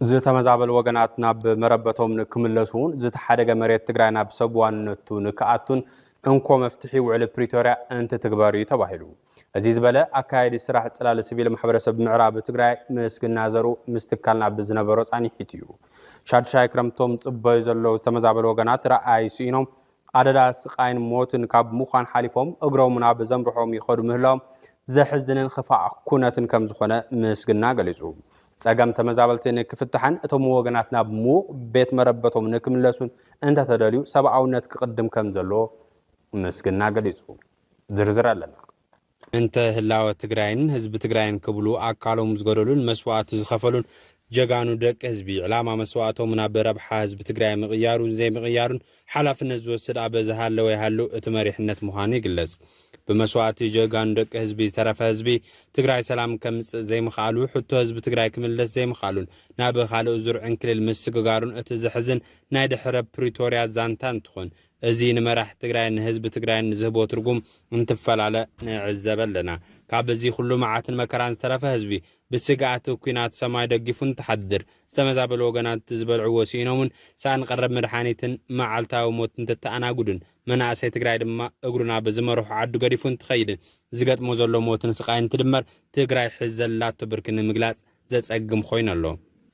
ዝተመዛበሉ ወገናት ናብ መረበቶም ንክምለሱን ዝተሓደገ መሬት ትግራይ ናብ ሰብ ዋንነቱ ንክኣቱን እንኮ መፍትሒ ውዕሊ ፕሪቶርያ እንትትግበር እዩ ተባሂሉ። እዚ ዝበለ ኣካያዲ ስራሕ ፅላል ስቪል ማሕበረሰብ ምዕራብ ትግራይ ምስግና ዘርኡ ምስ ትካልና ብዝነበሮ ፃኒሒት እዩ። ሻድሻይ ክረምቶም ፅበዩ ዘለዉ ዝተመዛበሉ ወገናት ረኣይ ስኢኖም ኣደዳ ስቓይን ሞትን ካብ ምዃን ሓሊፎም እግሮም ናብ ዘምርሖም ይኸዱ ምህላዎም ዘሕዝንን ኽፋእ ኩነትን ከም ዝኾነ ምስግና ገሊፁ። ፀገም ተመዛበልቲ ንክፍታሕን እቶም ወገናት ናብ ምዉቕ ቤት መረበቶም ንክምለሱን እንተተደልዩ ሰብኣውነት ክቕድም ከም ዘለዎ ምስግና ገሊፁ። ዝርዝር ኣለና። እንተ ህላወ ትግራይን ህዝቢ ትግራይን ክብሉ ኣካሎም ዝገደሉን መስዋእቲ ዝኸፈሉን ጀጋኑ ደቂ ህዝቢ፣ ዕላማ መስዋእቶም ናብ ረብሓ ህዝቢ ትግራይ ምቕያሩን ዘይምቕያሩን ሓላፍነት ዝወስድ ኣበ ዝሃለወ ይሃሉ እቲ መሪሕነት ምዃኑ ይግለፅ። ብመስዋእቲ ጀጋኑ ደቂ ህዝቢ ዝተረፈ ህዝቢ ትግራይ ሰላም ከምፅእ ዘይምኽኣሉ፣ ሕቶ ህዝቢ ትግራይ ክምልስ ዘይምኽኣሉን ናብ ኻልእ ዙር ዕንክሊል ምስግጋሩን እቲ ዘሕዝን ናይ ድሕረ ፕሪቶርያ ዛንታ እንትኾን፣ እዚ ንመራሕቲ ትግራይን ንህዝቢ ትግራይን ዝህቦ ትርጉም እንትፈላለ ንዕዘበ ኣለና። ካብ እዚ ኩሉ መዓትን መከራን ዝተረፈ ህዝቢ፣ ብስግኣት ኩናት ሰማይ ደጊፉ እንትሓድር፣ ዝተመዛበሉ ወገናት ዝበልዕዎ ስኢኖምን ሳኣን ቐረብ መድሓኒትን መዓልታዊ ሞት እንትተኣናግዱን፣ መናእሰይ ትግራይ ድማ እግሩ ናብ ዝመርሖ ዓዱ ገዲፉ እንትኸይድን ዝገጥሞ ዘሎ ሞትን ስቓይን እንትድመር ትግራይ ሕዚ ዘላቶ ብርኪ ንምግላፅ ዘጸግም ኾይኑ ኣሎ።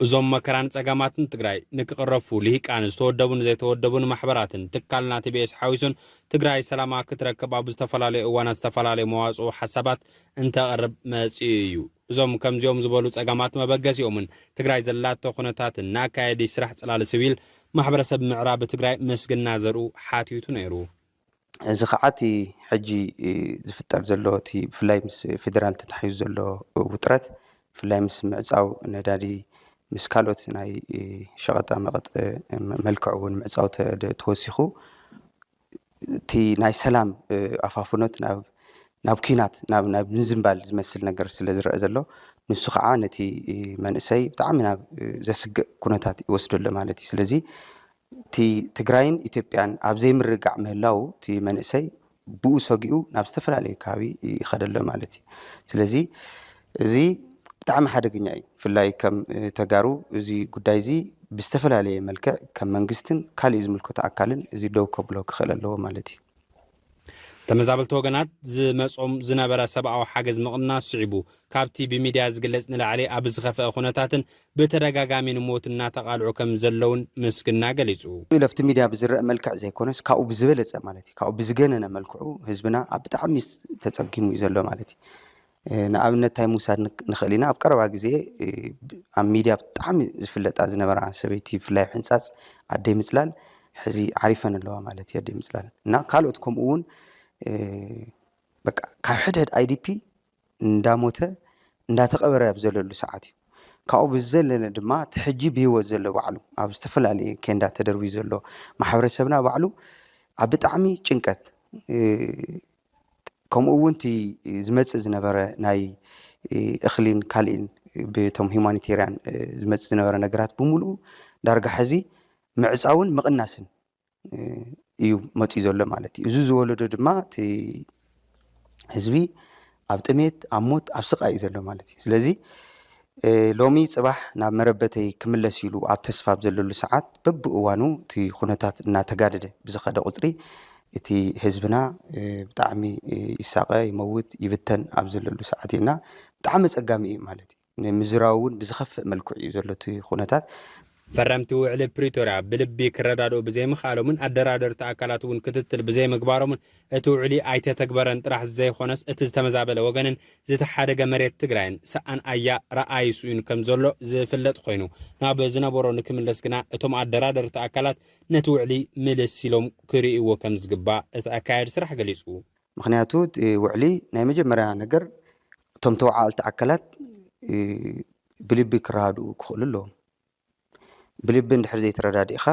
እዞም መከራን ጸገማትን ትግራይ ንክቕረፉ ልሂቃን ዝተወደቡን ዘይተወደቡን ማሕበራትን ትካልና ቲቢኤስ ሓዊሱን ትግራይ ሰላማ ክትረክብ ኣብ ዝተፈላለዩ እዋናት ዝተፈላለዩ መዋጽኦ ሓሳባት እንተቕርብ መጺኡ እዩ። እዞም ከምዚኦም ዝበሉ ጸገማት መበገሲኦምን ትግራይ ዘላቶ ኩነታትን ንኣካያዲ ስራሕ ጽላለ ስቪል ማሕበረሰብ ምዕራብ ትግራይ ምስግና ዘርኡ ሓቲቱ ነይሩ። እዚ ኸዓ እቲ ሕጂ ዝፍጠር ዘሎ እቲ ብፍላይ ምስ ፌደራል ተታሒዙ ዘሎ ውጥረት ብፍላይ ምስ ምዕፃው ነዳዲ ምስ ካልኦት ናይ ሸቐጣ መቐጥ መልክዕ እውን ምዕፃው ተወሲኹ እቲ ናይ ሰላም ኣፋፍኖት ናብ ናብ ኩናት ናብ ናብ ምዝንባል ዝመስል ነገር ስለ ዝረአ ዘሎ ንሱ ከዓ ነቲ መንእሰይ ብጣዕሚ ናብ ዘስግእ ኩነታት ይወስደሎ ማለት እዩ ስለዚ እቲ ትግራይን ኢትዮጵያን ኣብ ዘይምርግጋዕ ምህላዉ እቲ መንእሰይ ብኡ ሰጊኡ ናብ ዝተፈላለየ ከባቢ ይኸደ ኣሎ ማለት እዩ። ስለዚ እዚ ብጣዕሚ ሓደገኛ እዩ። ብፍላይ ከም ተጋሩ እዚ ጉዳይ እዚ ብዝተፈላለየ መልክዕ ከም መንግስትን ካሊእ ዝምልከቶ ኣካልን እዚ ደው ከብሎ ክኽእል ኣለዎ ማለት እዩ። ተመዛበልቲ ወገናት ዝመጾም ዝነበረ ሰብኣዊ ሓገዝ ምቕናስ ስዒቡ ካብቲ ብሚድያ ዝግለጽ ንላዕሊ ኣብ ዝኸፈኣ ኩነታትን ብተደጋጋሚ ንሞት እናተቓልዑ ከም ዘለውን ምስግና ገሊጹ። ኢሉ ኣብቲ ሚድያ ብዝረኣ መልክዕ ዘይኮነስ ካብኡ ብዝበለጸ ማለት እዩ ካብኡ ብዝገነነ መልክዑ ህዝብና ኣብ ብጣዕሚ ተጸጊሙ እዩ ዘሎ ማለት እዩ። ንኣብነት እንታይ ምውሳድ ንኽእል ኢና ኣብ ቀረባ ግዜ ኣብ ሚድያ ብጣዕሚ ዝፍለጣ ዝነበራ ሰበይቲ ብፍላይ ኣብ ሕንፃፅ ኣደይ ምፅላል ሕዚ ዓሪፈን ኣለዋ ማለት እዩ ኣደይ ምፅላል እና ካልኦት ከምኡ እውን በቃ ካብ ሕድሕድ ኣይዲፒ እንዳሞተ እንዳተቐበረ ኣብ ዘለሉ ሰዓት እዩ ካብኡ ብዝዘለለ ድማ እቲ ሕጂ ብሂወት ዘሎ ባዕሉ ኣብ ዝተፈላለየ ኬንዳ ተደርብዩ ዘሎ ማሕበረሰብና ባዕሉ ኣብ ብጣዕሚ ጭንቀት ከምኡ እውን እቲ ዝመፅእ ዝነበረ ናይ እኽሊን ካልኢን ብቶም ሂማኒቴርያን ዝመፅእ ዝነበረ ነገራት ብምሉኡ ዳርጋ ሕዚ ምዕፃውን ምቕናስን እዩ መፅኡ ዘሎ ማለት እዩ። እዚ ዝወለዶ ድማ እቲ ህዝቢ ኣብ ጥሜት ኣብ ሞት ኣብ ስቓይ እዩ ዘሎ ማለት እዩ። ስለዚ ሎሚ ጽባሕ ናብ መረበተይ ክምለስ ኢሉ ኣብ ተስፋ ኣብ ዘለሉ ሰዓት፣ በብእዋኑ እቲ ኩነታት እናተጋደደ ብዝኸደ ቁጽሪ፣ እቲ ህዝብና ብጣዕሚ ይሳቐ፣ ይመውት፣ ይብተን ኣብ ዘለሉ ሰዓት እዩ እና ብጣዕሚ ኣጸጋሚ እዩ ማለት እዩ። ንምዝራቡ እውን ብዝኸፍእ መልክዑ እዩ ዘሎ እቲ ኩነታት። ፈረምቲ ውዕሊ ፕሪቶርያ ብልቢ ክረዳድኡ ብዘይምኽኣሎምን ኣደራደርቲ ኣካላት እውን ክትትል ብዘይምግባሮምን እቲ ውዕሊ ኣይተተግበረን ጥራሕ ዘይኾነስ እቲ ዝተመዛበለ ወገንን ዝተሓደገ መሬት ትግራይን ሰኣን ኣያ ረኣይ ስኡን ከምዘሎ ዝፍለጥ ኾይኑ ናብ ዝነበሮ ንክምለስ ግና እቶም ኣደራደርቲ ኣካላት ነቲ ውዕሊ ምልስ ኢሎም ክርእይዎ ከምዝግባእ እቲ ኣካያዲ ስራሕ ገሊፁ። ምኽንያቱ እቲ ውዕሊ ናይ መጀመርያ ነገር እቶም ተወዓልቲ ኣካላት ብልቢ ክረዳድኡ ክኽእሉ ኣለዎም። ብልቢ እንድሕር ዘይተረዳዲእኻ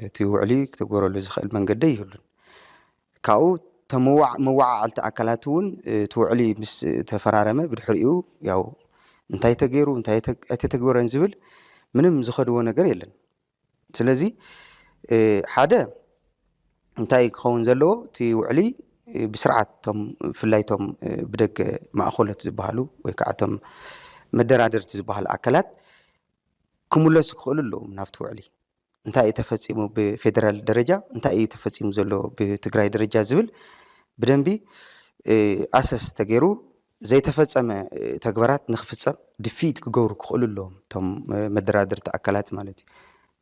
እቲ ውዕሊ ክተግበረሉ ዝኽእል መንገዲ ኣይህሉን። ካብኡ እቶም መወዓዓልቲ ኣካላት እውን እቲ ውዕሊ ምስ ተፈራረመ ብድሕሪኡ ያው እንታይ ተገይሩ እንታይ ኣይተተግበረን ዝብል ምንም ዝኸድዎ ነገር የለን። ስለዚ ሓደ እንታይ ክኸውን ዘለዎ እቲ ውዕሊ ብስርዓት እቶም ብፍላይ እቶም ብደገ ማእኸሎት ዝበሃሉ ወይ ከዓ እቶም መደራደርቲ ዝበሃሉ ኣካላት ክምለሱ ክኽእሉ ኣለዎም ናብቲ ውዕሊ እንታይ እዩ ተፈፂሙ ብፌደራል ደረጃ እንታይ እዩ ተፈፂሙ ዘሎ ብትግራይ ደረጃ ዝብል ብደንቢ ኣሰስ ተገይሩ ዘይተፈፀመ ተግባራት ንክፍፀም ድፍኢት ክገብሩ ክኽእሉ ኣለዎም እቶም መደራደርቲ ኣካላት ማለት እዩ።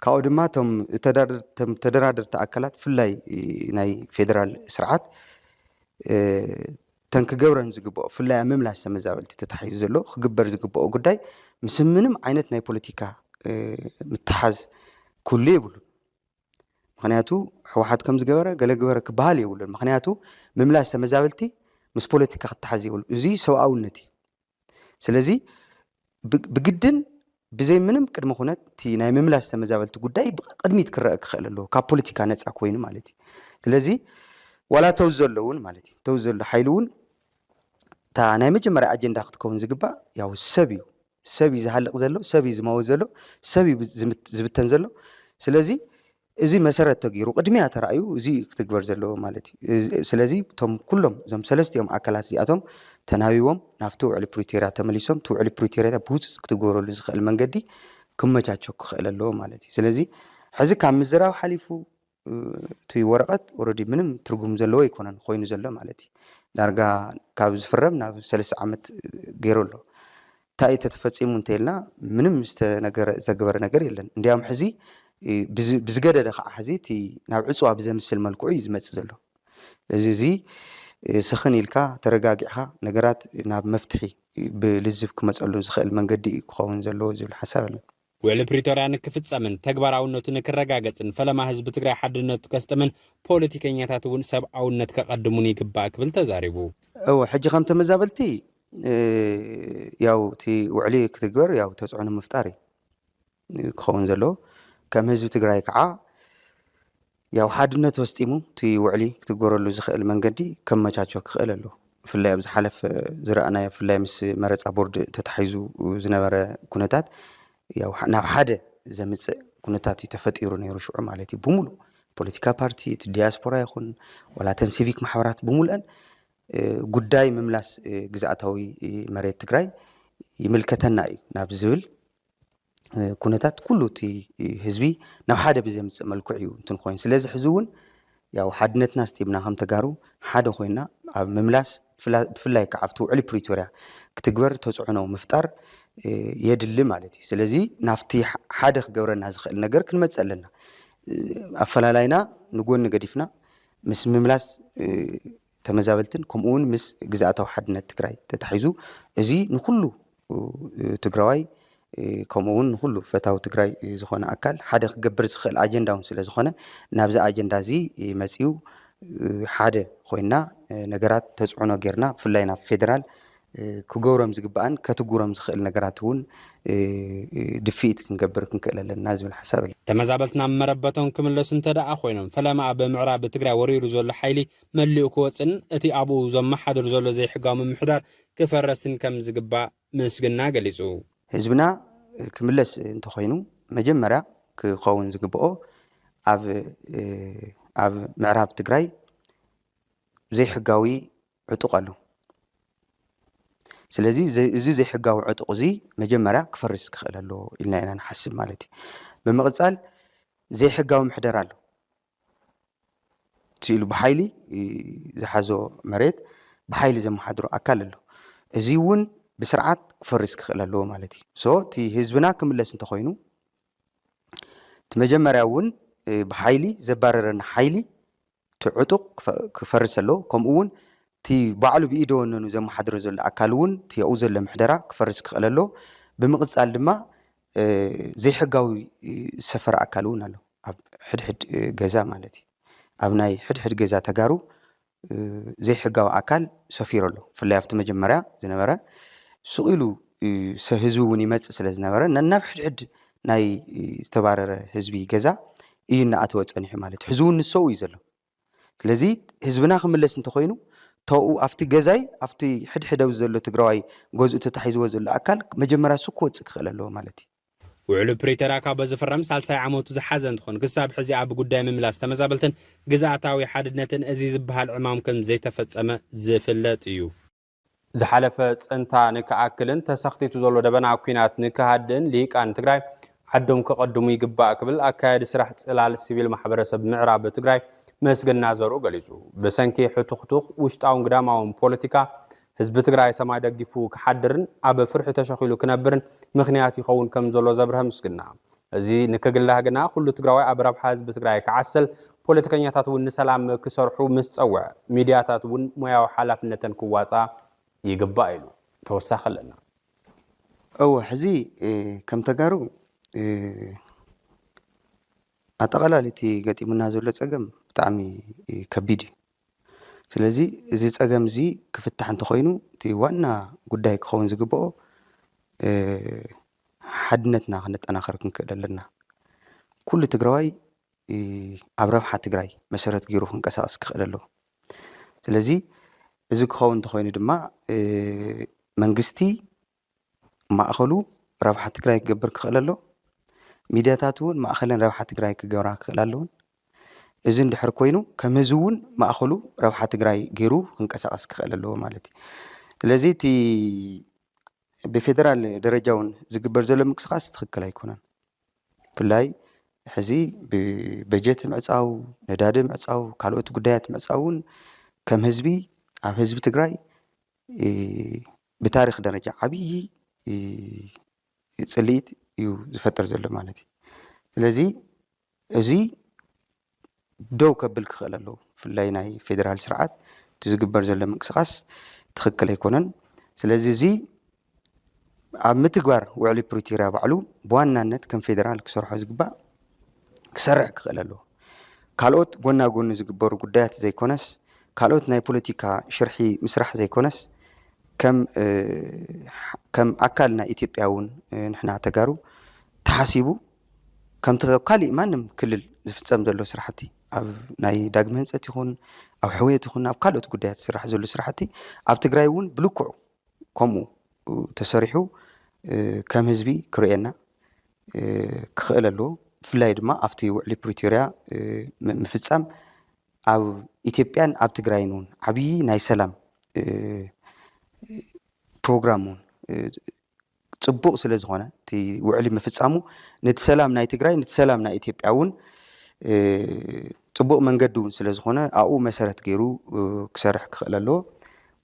ካብኡ ድማ እቶም ተደራደርቲ ኣካላት ብፍላይ ናይ ፌደራል ስርዓት እተን ክገብረን ዝግበኦ ብፍላይ ኣብ ምምላስ ተመዛበልቲ ተታሒዙ ዘሎ ክግበር ዝግበኦ ጉዳይ ምስ ምንም ዓይነት ናይ ፖለቲካ ምትሓዝ ክህሉ የብሉን። ምክንያቱ ሕወሓት ከምዚ ገበረ ገለ ግበረ ክበሃል የብሉን ምክንያቱ ምምላስ ተመዛበልቲ ምስ ፖለቲካ ክተሓዝ የብሉ እዚ ሰብኣውነት እዩ ስለዚ ብግድን ብዘይ ምንም ቅድሚ ኩነት እቲ ናይ ምምላስ ተመዛበልቲ ጉዳይ ቅድሚት ክረአ ክኽእል ኣለዎ ካብ ፖለቲካ ነፃ ኮይኑ ማለት እዩ ስለዚ ዋላ ተው ዘሎ እውን ማለት እዩ ተው ዘሎ ሓይሊ እውን እታ ናይ መጀመርያ ኣጀንዳ ክትከውን ዝግባእ ያው ሰብ እዩ ሰብ እዩ ዝሃልቅ ዘሎ ሰብ እዩ ዝመውት ዘሎ ሰብ እዩ ዝብተን ዘሎ ስለዚ እዚ መሰረት ተገይሩ ቅድሚያ ተራእዩ እዚ እዩ ክትግበር ዘለዎ ማለት እዩ ስለዚ እቶም ኩሎም እዞም ሰለስቲኦም ኣካላት እዚኣቶም ተናቢቦም ናብቲ ውዕሊ ፕሪቶርያ ተመሊሶም እቲ ውዕሊ ፕሪቶርያ ብውፅፅ ክትግበረሉ ዝኽእል መንገዲ ክመቻቸው ክኽእል ኣለዎ ማለት እዩ ስለዚ ሕዚ ካብ ምዝራብ ሓሊፉ እቲ ወረቀት ኦረዲ ምንም ትርጉም ዘለዎ ኣይኮነን ኮይኑ ዘሎ ማለት እዩ ዳርጋ ካብ ዝፍረም ናብ ሰለስተ ዓመት ገይሩ ኣሎ እንታይ ተተፈፂሙ እንተይልና ምንም ዝተነገረ ዘግበረ ነገር የለን እንዲያም ሕዚ ብዝገደደ ከዓ ሕዚ እቲ ናብ ዕፅዋ ብዘምስል መልክዑ እዩ ዝመፅእ ዘሎ እዚ እዚ ስኽን ኢልካ ተረጋጊዕካ ነገራት ናብ መፍትሒ ብልዝብ ክመፀሉ ዝኽእል መንገዲ እዩ ክኸውን ዘለዎ ዝብል ሓሳብ ኣለኒ ውዕሊ ፕሪቶርያ ንክፍፀምን ተግባራውነቱ ንክረጋገፅን ፈለማ ህዝቢ ትግራይ ሓድነቱ ከስጥምን ፖለቲከኛታት እውን ሰብኣውነት ከቐድሙን ይግባእ ክብል ተዛሪቡ። እው ሕጂ ከም ተመዛበልቲ ያው እቲ ውዕሊ ክትግበር ያው ተፅዕኖ ምፍጣር እዩ ክኸውን ዘለዎ ከም ህዝቢ ትግራይ ከዓ ያው ሓድነት ወስጢሙ እቲ ውዕሊ ክትግበረሉ ዝኸእል መንገዲ ከመቻቾ ክኸእል ኣለዎ። ብፍላይ ኣብ ዝሓለፈ ዝረኣናዮ ብፍላይ ምስ መረፃ ቦርድ ተታሒዙ ዝነበረ ኩነታት ያው ናብ ሓደ ዘምፅእ ኩነታት እዩ ተፈጢሩ ነይሩ ሽዑ ማለት እዩ ብምሉእ ፖለቲካ ፓርቲ እቲ ዲያስፖራ ይኹን ዋላ እተን ሲቪክ ማሕበራት ብምሉአን ጉዳይ ምምላስ ግዝኣታዊ መሬት ትግራይ ይምልከተና እዩ ናብ ዝብል ኩነታት ኩሉ እቲ ህዝቢ ናብ ሓደ ብዘምፅእ መልክዕ እዩ እንትን ኮይኑ ስለዚ ሕዚ እውን ያው ሓድነትና ስጢብና ከም ተጋሩ ሓደ ኮይና ኣብ ምምላስ ብፍላይ ከዓ ኣብቲ ውዕሊ ፕሪቶርያ ክትግበር ተፅዕኖ ምፍጣር የድሊ ማለት እዩ ስለዚ ናብቲ ሓደ ክገብረና ዝኽእል ነገር ክንመፅእ ኣለና ኣፈላላይና ንጎኒ ገዲፍና ምስ ምምላስ ተመዛበልትን ከምኡውን ምስ ግዛእታዊ ሓድነት ትግራይ ተታሒዙ እዚ ንኩሉ ትግራዋይ ከምኡ እውን ንኹሉ ፈታዊ ትግራይ ዝኾነ ኣካል ሓደ ክገብር ዝኽእል ኣጀንዳ እውን ስለ ዝኾነ ናብዚ ኣጀንዳ እዚ መፂኡ ሓደ ኮይና ነገራት ተፅዕኖ ጌርና ብፍላይ ናብ ፌዴራል ክገብሮም ዝግባእን ከትግብሮም ዝኽእል ነገራት እውን ድፍኢት ክንገብር ክንክእል ኣለና ዝብል ሓሳብ ኣሎ። ተመዛበልቲ ናብ መረበቶም ክምለሱ እንተደኣ ኮይኖም ፈለማ ኣብ ምዕራብ ትግራይ ወሪሩ ዘሎ ሓይሊ መሊኡ ክወፅእን እቲ ኣብኡ ዘመሓድር ዘሎ ዘይሕጋዊ ምምሕዳር ክፈረስን ከም ዝግባእ ምስግና ገሊጹ። ህዝብና ክምለስ እንተኾይኑ መጀመርያ ክኸውን ዝግበኦ ኣብ ኣብ ምዕራብ ትግራይ ዘይሕጋዊ ዕጡቕ ኣሎ። ስለዚ እዚ ዘይሕጋዊ ዕጡቕ እዚ መጀመርያ ክፈርስ ክኽእል ኣለዎ ኢልና ኢና ንሓስብ ማለት እዩ። ብምቕጻል ዘይሕጋዊ ምሕደራ ኣሎ። እቲ ኢሉ ብሓይሊ ዝሓዞ መሬት ብሓይሊ ዘመሓድሮ ኣካል ኣሎ። እዚ እውን ብስርዓት ክፈርስ ክኽእል ኣለዎ ማለት እዩ። ሶ እቲ ህዝብና ክምለስ እንተኾይኑ እቲ መጀመርያ እውን ብሓይሊ ዘባረረና ሓይሊ እቲ ዕጡቕ ክፈርስ ኣለዎ። ከምኡ እውን እቲ ባዕሉ ብኢደ ወነኑ ዘመሓድሮ ዘሎ ኣካል እውን እቲ ኣብኡ ዘሎ ምሕደራ ክፈርስ ክኽእል ኣለዎ። ብምቕፃል ድማ ዘይሕጋዊ ዝሰፈረ ኣካል እውን ኣሎ። ኣብ ሕድሕድ ገዛ ማለት እዩ። ኣብ ናይ ሕድሕድ ገዛ ተጋሩ ዘይሕጋዊ ኣካል ሰፊሩ ኣሎ። ብፍላይ ኣብቲ መጀመርያ ዝነበረ ስቕ ኢሉ ህዝቢ እውን ይመፅእ ስለ ዝነበረ ነናብ ሕድሕድ ናይ ዝተባረረ ህዝቢ ገዛ እዩ እናኣተወ ፀኒሑ ማለት እዩ። ሕዚ እውን ንሰኡ እዩ ዘሎ። ስለዚ ህዝብና ክምለስ እንተኾይኑ ተኡ ኣብቲ ገዛይ ኣብቲ ሕድሕድ ኣብዚ ዘሎ ትግራዋይ ገዝኡ ተታሒዝዎ ዘሎ ኣካል መጀመርያ እሱ ክወፅእ ክኽእል ኣለዎ ማለት እዩ። ውዕሉ ፕሪተርያ ካብ ዝፍረም ሳልሳይ ዓመቱ ዝሓዘ እንትኾን ክሳብ ሕዚ ኣብ ጉዳይ ምምላስ ተመዛበልትን ግዝኣታዊ ሓድነትን እዚ ዝበሃል ዕማም ከም ዘይተፈፀመ ዝፍለጥ እዩ። ዝሓለፈ ፅንታ ንክኣክልን ተሰኽቲቱ ዘሎ ደበና ኲናት ንክሃድእን ልሂቃን ትግራይ ዓዶም ከቐድሙ ይግባእ ክብል ኣካያዲ ስራሕ ፅላል ሲቪል ማሕበረሰብ ምዕራብ ትግራይ መስገና ዘርኡ ገሊፁ። ብሰንኪ ሕቱኽቱኽ ውሽጣውን ግዳማውን ፖለቲካ ህዝቢ ትግራይ ሰማይ ደጊፉ ክሓድርን ኣብ ፍርሒ ተሸኺሉ ክነብርን ምኽንያት ይኸውን ከም ዘሎ ዘብርሀ ምስግና እዚ ንክግላህ ግና ኩሉ ትግራዋይ ኣብ ረብሓ ህዝቢ ትግራይ ክዓስል ፖለቲከኛታት እውን ንሰላም ክሰርሑ ምስ ፀውዐ ሚድያታት እውን ሞያዊ ሓላፍነተን ክዋፃ ይግባእ ኢሉ ተወሳኺ ኣለና እወ ሕዚ ከም ተጋሩ ኣጠቓላሊ እቲ ገጢሙና ዘሎ ፀገም ብጣዕሚ ከቢድ እዩ ስለዚ እዚ ጸገም እዚ ክፍታሕ እንተኾይኑ እቲ ዋና ጉዳይ ክኸውን ዝግብኦ ሓድነትና ክነጠናኸር ክንክእል ኣለና። ኩሉ ትግራዋይ ኣብ ረብሓ ትግራይ መሰረት ገይሩ ክንቀሳቀስ ክኽእል ኣለዎ። ስለዚ እዚ ክኸውን እንተኾይኑ ድማ መንግስቲ ማእኸሉ ረብሓ ትግራይ ክገብር ክኽእል ኣለዎ። ሚድያታት እውን ማእኸለን ረብሓ ትግራይ ክገብራ ክኽእላ ኣለወን። እዚ እንድሕር ኮይኑ ከም ህዝቢ እውን ማእኸሉ ረብሓ ትግራይ ገይሩ ክንቀሳቐስ ክኽእል ኣለዎ ማለት እዩ። ስለዚ እቲ ብፌደራል ደረጃ እውን ዝግበር ዘሎ ምንቅስቓስ ትኽክል ኣይኮነን። ብፍላይ ሕዚ ብበጀት ምዕፃው፣ ነዳዲ ምዕፃው፣ ካልኦት ጉዳያት ምዕፃው እውን ከም ህዝቢ ኣብ ህዝቢ ትግራይ ብታሪኽ ደረጃ ዓብዪ ፅልኢት እዩ ዝፈጥር ዘሎ ማለት እዩ። ስለዚ እዚ ደው ከብል ክኽእል ኣለዎ። ብፍላይ ናይ ፌዴራል ስርዓት እቲ ዝግበር ዘሎ ምንቅስቓስ ትኽክል ኣይኮነን። ስለዚ እዚ ኣብ ምትግባር ውዕሊ ፕሪቶርያ ባዕሉ ብዋናነት ከም ፌዴራል ክሰርሖ ዝግባእ ክሰርሕ ክኽእል ኣለዎ። ካልኦት ጎና ጎኒ ዝግበሩ ጉዳያት ዘይኮነስ፣ ካልኦት ናይ ፖለቲካ ሽርሒ ምስራሕ ዘይኮነስ፣ ከም ከም ኣካል ናይ ኢትዮጵያ እውን ንሕና ተጋሩ ተሓሲቡ ከምቲ ካሊእ ማንም ክልል ዝፍፀም ዘሎ ስራሕቲ ኣብ ናይ ዳግመ ህንፀት ይኹን ኣብ ሕውየት ይኹን ኣብ ካልኦት ጉዳያት ዝስራሕ ዘሎ ስራሕቲ ኣብ ትግራይ እውን ብልክዑ ከምኡ ተሰሪሑ ከም ህዝቢ ክርእየና ክኽእል ኣለዎ። ብፍላይ ድማ ኣብቲ ውዕሊ ፕሪቶርያ ምፍፃም ኣብ ኢትዮጵያን ኣብ ትግራይን እውን ዓብዪ ናይ ሰላም ፕሮግራም እውን ፅቡቅ ስለዝኾነ እቲ ውዕሊ ምፍፃሙ ነቲ ሰላም ናይ ትግራይ ነቲ ሰላም ናይ ኢትዮጵያ እውን ፅቡቅ መንገዲ እውን ስለዝኾነ ኣብኡ መሰረት ገይሩ ክሰርሕ ክኽእል ኣለዎ።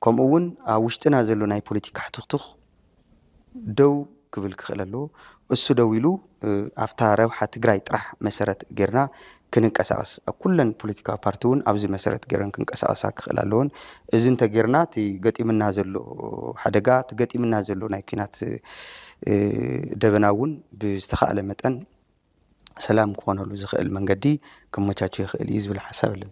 ከምኡ እውን ኣብ ውሽጥና ዘሎ ናይ ፖለቲካ ሕቱኽቱኽ ደው ክብል ክኽእል ኣለዎ። እሱ ደው ኢሉ ኣብታ ረብሓ ትግራይ ጥራሕ መሰረት ገይርና ክንንቀሳቐስ፣ ኣብ ኩለን ፖለቲካዊ ፓርቲ እውን ኣብዚ መሰረት ገይረን ክንቀሳቐሳ ክኽእላ ኣለወን። እዚ እንተገይርና እቲ ገጢሙና ዘሎ ሓደጋ፣ እቲ ገጢሙና ዘሎ ናይ ኲናት ደበና እውን ብዝተኻእለ መጠን ሰላም ክኾነሉ ዝኽእል መንገዲ ክመቻቾ ይኽእል እዩ ዝብል ሓሳብ ኣለኒ።